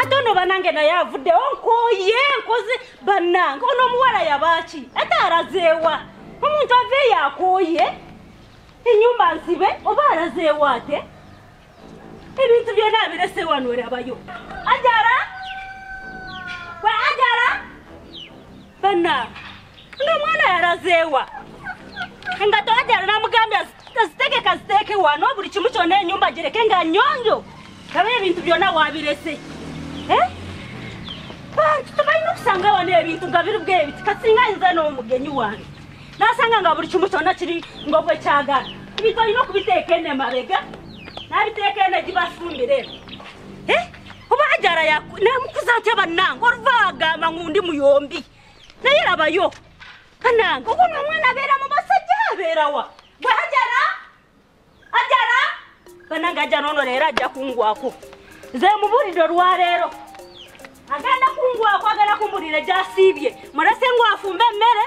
ate ono banange naye avuddewo nkoye nkoze banange ono omuwala yabaaki ate arazeewa omuntu aveeyo akoye enyumba nsibe oba arazeewa ate ebintu byona abirese wano erabayo ajara we ajara bana nga mwana yarazeewa nga tewajala namugambye azitegeka ziteeke wano buli kimu kyona enyumba gireke nga nyonjo aba ebintu byona wabirese eh? bantu tebalina okusanga wano ebintu nga biri bwebiti kasinga ayinza n'omugenyi wange nasanga nga buli kimu kyona kiri ngobwekyagala ebintu alina okubiteeka enemabega nabiteeka ene gibasumbire eh? oba ajara namukuza atya bannange oluva agamba ngu ndi muyombi naye labayo bannange okuno omwana abeera mu basajja abeerawa gwe ajara ajara bannange ajara ono leero ajja kungwako nze mubulidde olwaleero agenda kungwako agenda kumbulire gyasiibye mulese ngwafumba emmere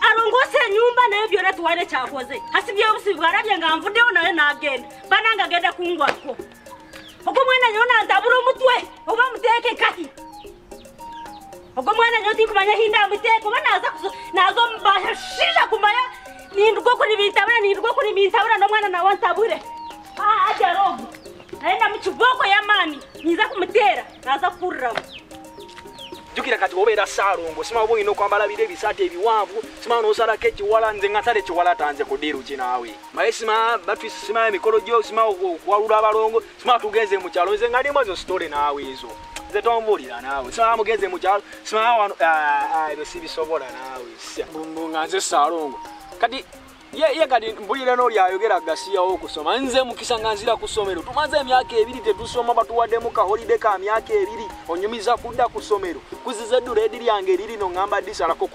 alongoose enyumba naye byona tuwaire kyakoze hasibye obusibi bwarabye nga nvuddewo naye nagenda bananga agenda kungwako ogwo mwana nyo nantabula omutwe oba muteeke kati ogwo mwana nyo tinkumanya hinda muteeke oba naza naza omubasha shisha kumaya nindwa okuli bintabula nindwa okuli bintabula nomwana nawe ntabule ajarogo naye namukiboko yamani ninza kumuteera naza kukuriramu jukira kati obeera saalongo simaba oba olina okwambala biro ebisaati ebiwanvu simaba nosalako ekiwala nze nga nsala ekiwala tanze kudiiru ki naawe maye sima batris simaba emikolo gyo sima okuwalula abalongo simaba tugenze mukyalo nze nga ndimu ezo sitole naawe ezo nze tombuulira naawe simaba mugenze mukyalo simaba wano ah, ah, ebyo sibisobola naawe nga nze saalongo kati ye kati mpulira n'oli ayogera gasiyawo okusoma nze mukisa nga nzira ku ssomero tumaze emyaka ebiri tetusoma batuwaddemu kaholide ka myaka ebiri onyumiza kudda ku ssomero kuziza eddula edi lyange eririno ngamba disalako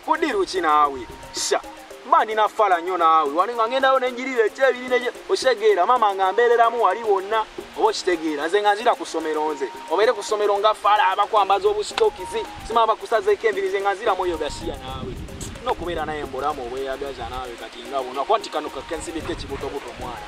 kudiru ki naawe sa mba ndina fala nnyo naawe wali nga ngendayo nenjirira ekyebiri osegeera maama nga mbeereramu wali wonna oba okitegeera nze nga nzira ku ssomero nze obeere ku ssomero nga fala abakwambaza obusitokizi sima bakusazeeko envirize nga nzira mwoyo gasiya naawe nokubeera naye mbulamu obweyagaza naawe kati nga buno kwanti kano kakensibika ekibutobuto mwana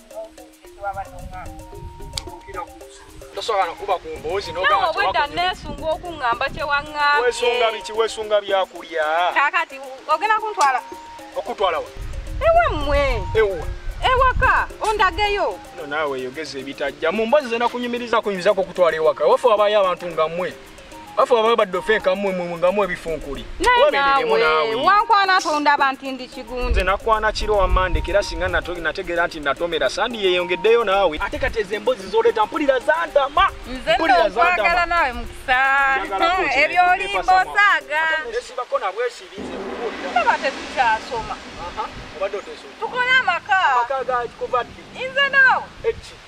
tosobola kuba ku mboozi nobwedda nesunga okuŋamba kyewaŋambyewesunga biki wesunga byakulya kakati ogenda kuntwala okutwalawa ewammwe ewa ewaka ondageyo no naawe yogeza ebitajja mu mbozi zena kunyumiriza kunyumizako okutwala ewaka wafe wabayo abantu nga mmwe bafu baba badde ofeeka mmwe mmwe nga mu ebifunkuli wabeereremu naawe wankwana atonda abantu ndi kigundi nze nakwana kiro wamande kera singa nategeera nti natomera sandi yeeyongeddeyo naawe ate kati ezo emboozi zoleeta mpulira zantama nze nokwagala naawe mukisa ebyolimba osaaga esibako nabwesibi nze kubuulira aba tetukyasoma tukole amaka amaka gakikuva ddi nze naawe eki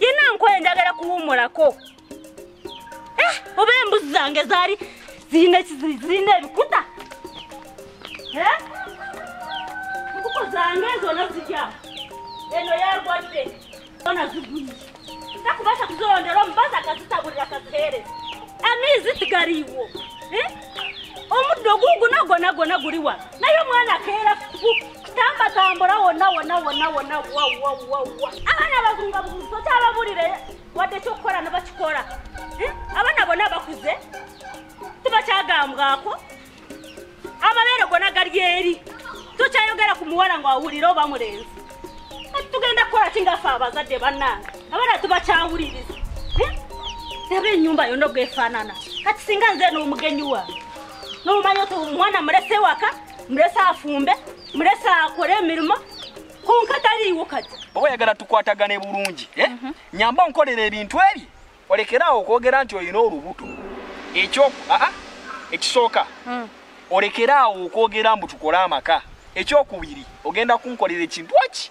yina nkoye njagala kuwumulako eh, oba embuzi zange zaali zirina zirina ebikuta eh? nkuko zange zona zirya eno yagwadde zona zigwiye takubasha kuzirondera omubazi akazitabulira kazihereza amiizi tigaliiwo eh? omuddo guugu nagwo nagwo naguli wano naye omwana akeera kitamba tambula wonna wonna wonna wonna wawawawa abaana abazunga buguzi tokyababulire wadde ekyokukola nebakikola eh? abaana bonna bakuze tibakyagambwako amabeere gona gali eri tokyayogera ku muwala nga wawulire oba mulenzi ati tugenda kukola kingafe abazadde bannange abaana tibakyawuliriza eh? aba enyumba yonna ogwefaanana kati singa nze n'omugenyi wange n'omanya ti omwana mulese waka mulese afumbe mulese akole emirimu konka taliiwo kati oba oyagala tukwatagane bulungi eh? mhm. nyamba onkolera ebintu ebyo olekeraawo okwogera nti olina olubuto ekyo aa ekisooka hmm. olekeraawo okwogera mbu tukole amaka ekyokubiri ogenda kunkolera ekintu aki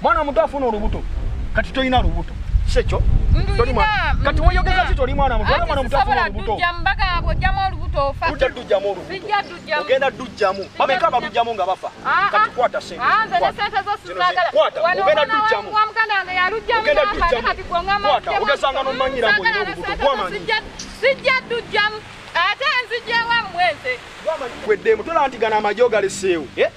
mwana omuto afuna olubuto kati tolina lubuto sekyo kati weyogeza ti toli mwana muto mwana omuto afuna olubuto ogenda dujjamu bameka balujjamu nga bafa ah, ah. kati kwata sentekwata ogenda dujjamu ogesanga nomanyira mbu olina olubuto gwamanyi sijja dujjamu ate nzijewamwenze gweddemu tola nti gana amagye ogaleseewo eh?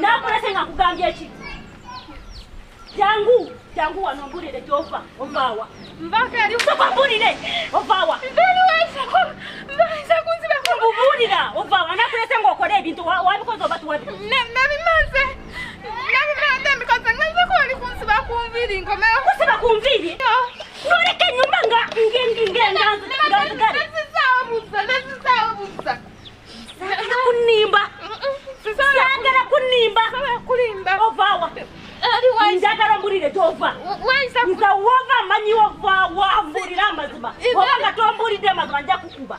nakulese nga kugambye eki jangu jangu wano mbulire gyova ovaawa mbulire ovaawa mbubuulira ovaawa nakulese nga okole ebintu wabikoze oba tuwabi kusiba ku nviiri noleka enyumba nga ngenganzigale Sagala kunimba. Sagala kunimba. Sagala kulimba. Ovawa. Otherwise. Njagala mbulire tova. Waiza. Nza wova manyi wova wa mbulira amazima. Wova nga tombulidde amazima nja kukuba.